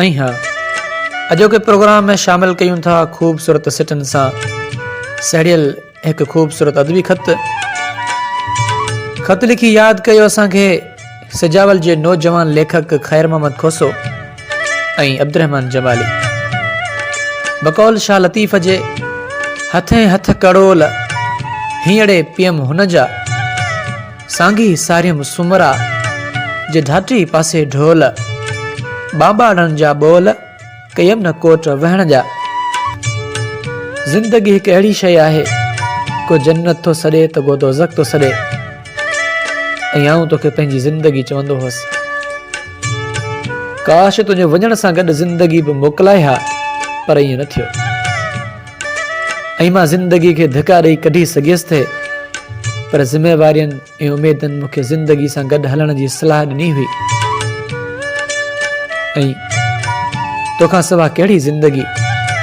۽ ها اڄوڪي پروگرام ۾ شامل ڪيون ٿا خوبصورت سٽن سان سهڙيل هڪ خوبصورت ادبي خط خط لکي ياد ڪيو اسان کي سجاول جي نوجوان ليکڪ خير محمد کوسو ۽ عبدالرحمان جمالي بقول شاهه لطيف جي هٿين هٿ ڪڙول هينئڙي پيم هن جا سانگي ساريم سومرا جي ڌاٽي پاسي ڍول، ٻانٻاڙن جا ٻول ڪيم نه ڪوٽ وهڻ جا. زندگي هڪ اهڙي شيء آهي، ڪو جنت ٿو سڏي ته ڪو دوزخ ٿو سڏي ۽ آئون توکي پنهنجي زندگي چوندو هوس. ڪاش تنهنجي وڃڻ سان گڏ زندگي به موڪلائي ها پر ائين نه ٿيو. ۽ مان زندگي کي ڌڪا ڏئي ڪڍي سگهيس ٿي پر ذميوارين ۽ اميدن مون کي زندگي سان گڏ هلڻ جي صلاح ڏني هئي ۽ تو کان سوا ڪهڙي زندگي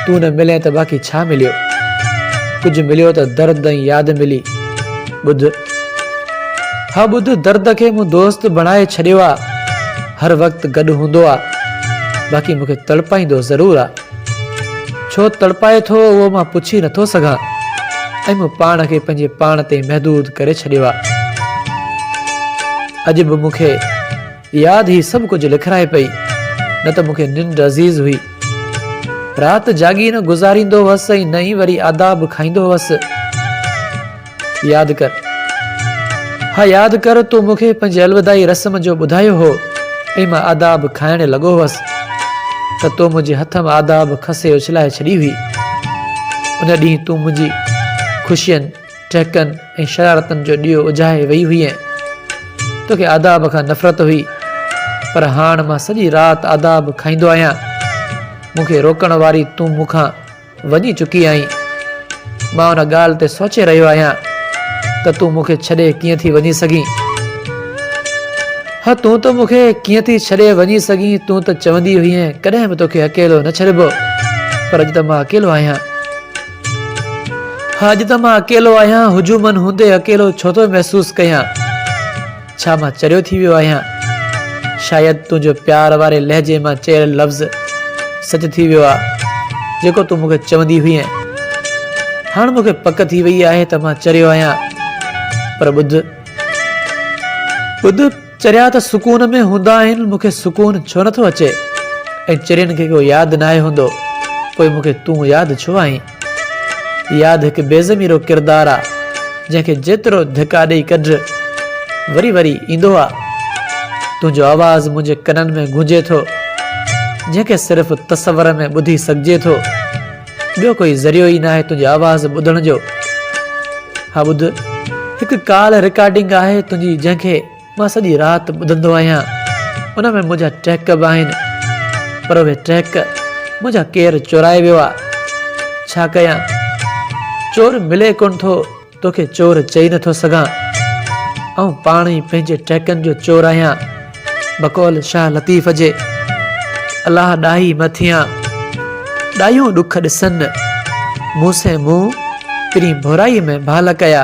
تون نه ملين ته باقي ڇا مليو ڪجهه مليو ته درد ۽ ياد ملي ٻڌ ها ٻڌ درد کي مون دوست بڻائي ڇڏيو آ هر وقت گڏ هوندو آ باقي مون کي تڙپائيندو ضرور آ ڇو تڙپائي ٿو اهو مان پڇي نٿو سگهان ۽ مون پاڻ کي پنهنجي پاڻ تي محدود ڪري ڇڏيو آ. اڄ به مون کي ياد هي سڀ ڪجهه لکرائي پئي نه ته مون کي ننڊ عزيز هئي. رات جاڳي نه گذاريندو هوس ۽ نه ئي وري آداب کائيندو هوس. ياد ڪر ها ياد ڪر تو مون کي پنهنجي الوداعي رسم جو ٻڌايو هو ۽ مان آداب کائڻ لڳو هوس ته تو منهنجي هٿ مان آداب کسي اڇلائي ڇڏي هئي ان ڏينهن تون منهنجي خوشين ٽهڪن ۽ شرارتن جو ڏيئو اجهائي وئي هئين توکي آداب کان نفرت هئي پر هاڻ مان سڄي رات آداب کائيندو آهيان مون کي روڪڻ واري تون مون کان وڃي چڪي آهين. مان ان ڳالهه تي سوچي رهيو آهيان ته تون مون کي ڇڏي ڪيئن ٿي وڃي سگهين؟ هه تون ته مون کي ڪيئن ٿي ڇڏي وڃي سگهين؟ تون ته چوندي هئين ڪڏهن به توکي اڪيلو نه ڇڏبو پر اڄ ته مان اڪيلو آهيان. هه اڄ ته مان اڪيلو آهيان. هجومن هوندي اڪيلو ڇو ٿو محسوس ڪيان؟ ڇا مان چريو ٿي ويو آهيان؟ شايد تنهنجو پيار واري لهجي مان چيل لفظ سچ ٿي ويو آهي، جيڪو تون مون کي چوندي هئين. هاڻ مون کي پڪ ٿي ويئي آهي ته مان چريو آهيان. پر ٻڌ. ٻڌ، چريا ته سڪون ۾ هوندا آهن، مون کي سڪون ڇو نٿو اچي؟ ۽ چرين کي ڪو ياد ناهي هوندو، پوء مون کي تون ياد ڇو آهين؟ ياد هڪ بي ضميرو ڪردار آ جنهن کي جيترو ڌڪا ڏئي ڪڍ وري وري ايندو آ تنهنجو آواز منهنجي ڪنن ۾ گونجي ٿو جنهن کي صرف تصور ۾ ٻڌي سگهجي ٿو ٻيو ڪوئي ذريعو ئي ناهي تنهنجي آواز ٻڌڻ جو ها ٻڌ هڪ ڪال رڪارڊنگ آهي تنهنجي جنهن کي مان سڄي رات ٻڌندو آهيان ان ۾ منهنجا ٽهڪ به آهن پر اهي ٽهڪ منهنجا ڪير چورائي ويو آ ڇا ڪيان چور ملي ڪونه ٿو توکي چور چئي نه ٿو سگهان آئون پاڻ ئي پنهنجي ٽهڪن جو چور آهيان بقول شاهه لطيف جي الله ڏاهي م ٿيان ڏايون ڏک ڏسن مون سين مون پرين ڀورائي ۾ ڀال ڪيا.